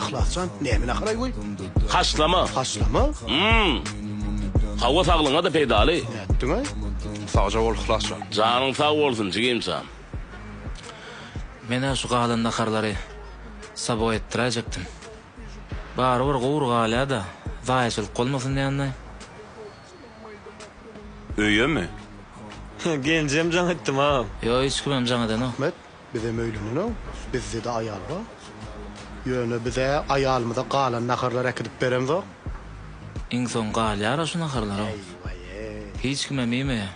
Yhlasjan nämene garaý goý? Haşlama. Haşlama? Hum. Hawa saglygyňa-da peýdaly. Nätdiňaý? Sagja bol Yhlasjan. Janyň sag bolsun jigimjan. Men-ä şu galan naharlary Sabo etdiräýjekdim. Barybir gury galýa-da, zaýaçylyk bolmasyn diýendeý. Öýemi? He, genjem jaň etdim-a. Ýok, hiç kimem jaň edenok. Ahmet. Bizem öýlenenok, bizde-de aýal bar. Ýöne biz-ä aýalymyza galan naharlary äkidip beremzok. Iň soň galýar-a şu naharlaram. Hiç kimem iýmeýär.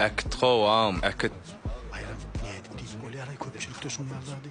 Äkit gowam, äkit. Baýram, nädip diýip bolýar-aý köpçülikde şuny ýaly zady?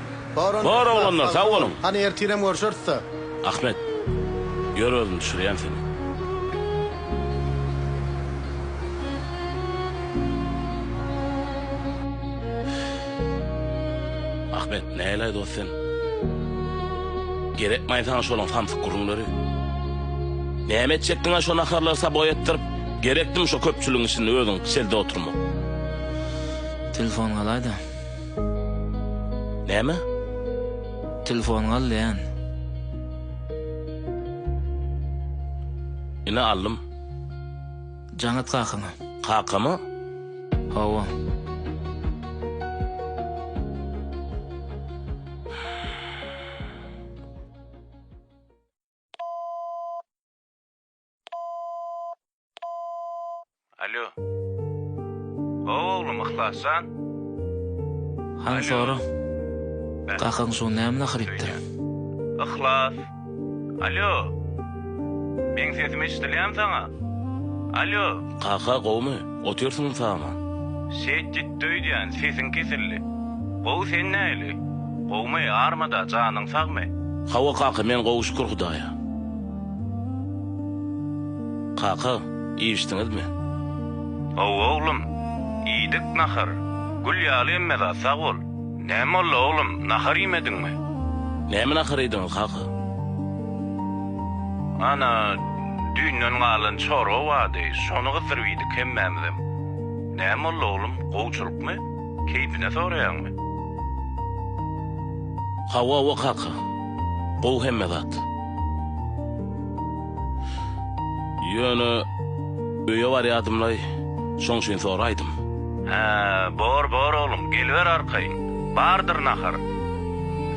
Bor oglanlar sag boluň. Hany ertirem görşerisda. Ahmet. Ýör özüm düşürýän seni. Ahmet. Näleý dost sen. Gerekmaý saňa şolaň samsyk gürrüňleri. Näme etjekdiňä şo naharlary saboý etdirip. Gerekdimi şo köpçüligiň içinde özüň şelde oturmak. Telefon galaýda. Näme? Telefon galýan. Ine aldym. Jaň et kakaňa. Kakama? Hawa. Alýo. Gowy oglum Yhlasjan. Hany sora. Kakaň şu näme naharypdyr. Yhlas. Alýo. Meň sesim eşidilýämi saňa? Alýo. Kaka gowmy? Otyrsyňmy saman? Şeýt gitdi öýdýän, sesiň kesildi. Gowy sen nähili? Gowmy, armada, janyň sagmy? Hawa kaka men gowy şükür hudaýa. Kaka, iýişdiňizmi? Hawa, oglum, iýdik nahar. Gül ýaly emmeza, sag bol. Näme boldy, oglum, nahar iýmediňmi? Näme nahar iýdiňiz, kaka? Ana, düýnden galan çorba bardy, şony gyzdyryp iýdik hemmämizem. Näme boldy, oglum, gowçylykmy? Keýpine soraýaňmy? Hawa, hawa, kaka. Gowy hemme zat. Ýöne öýe barýadymlaý, şoň üçin soraýdym. Hä, bor, bor oglum, geliber arkaýyn. Bardyr nahar.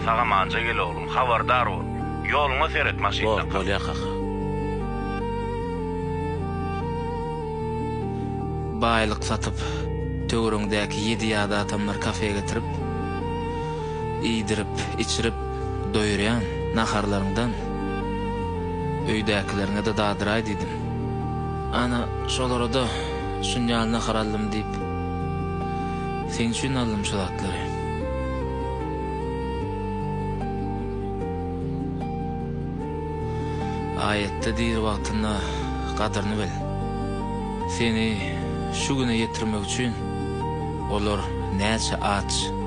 Sagamanja gel oglum, habardar bol. Ýoluňa seret, maşyndan kal. Bor, bolýar kaka. Baýlyk satyp, töweregiňdäki ýedi ýadatamlary kafä getirip, iýdirip, içirip. Doýurýan naharlaryňdan öýdäkileriňe-de dadyraý diýdim. Ana, şolara-da şuny ýaly nahar aldym diýip, seň üçin aldym şu zatlary. Aýatda diri wagtyňda gadyryny bil. Seni şu güne ýetirmek üçin olar näçe aç.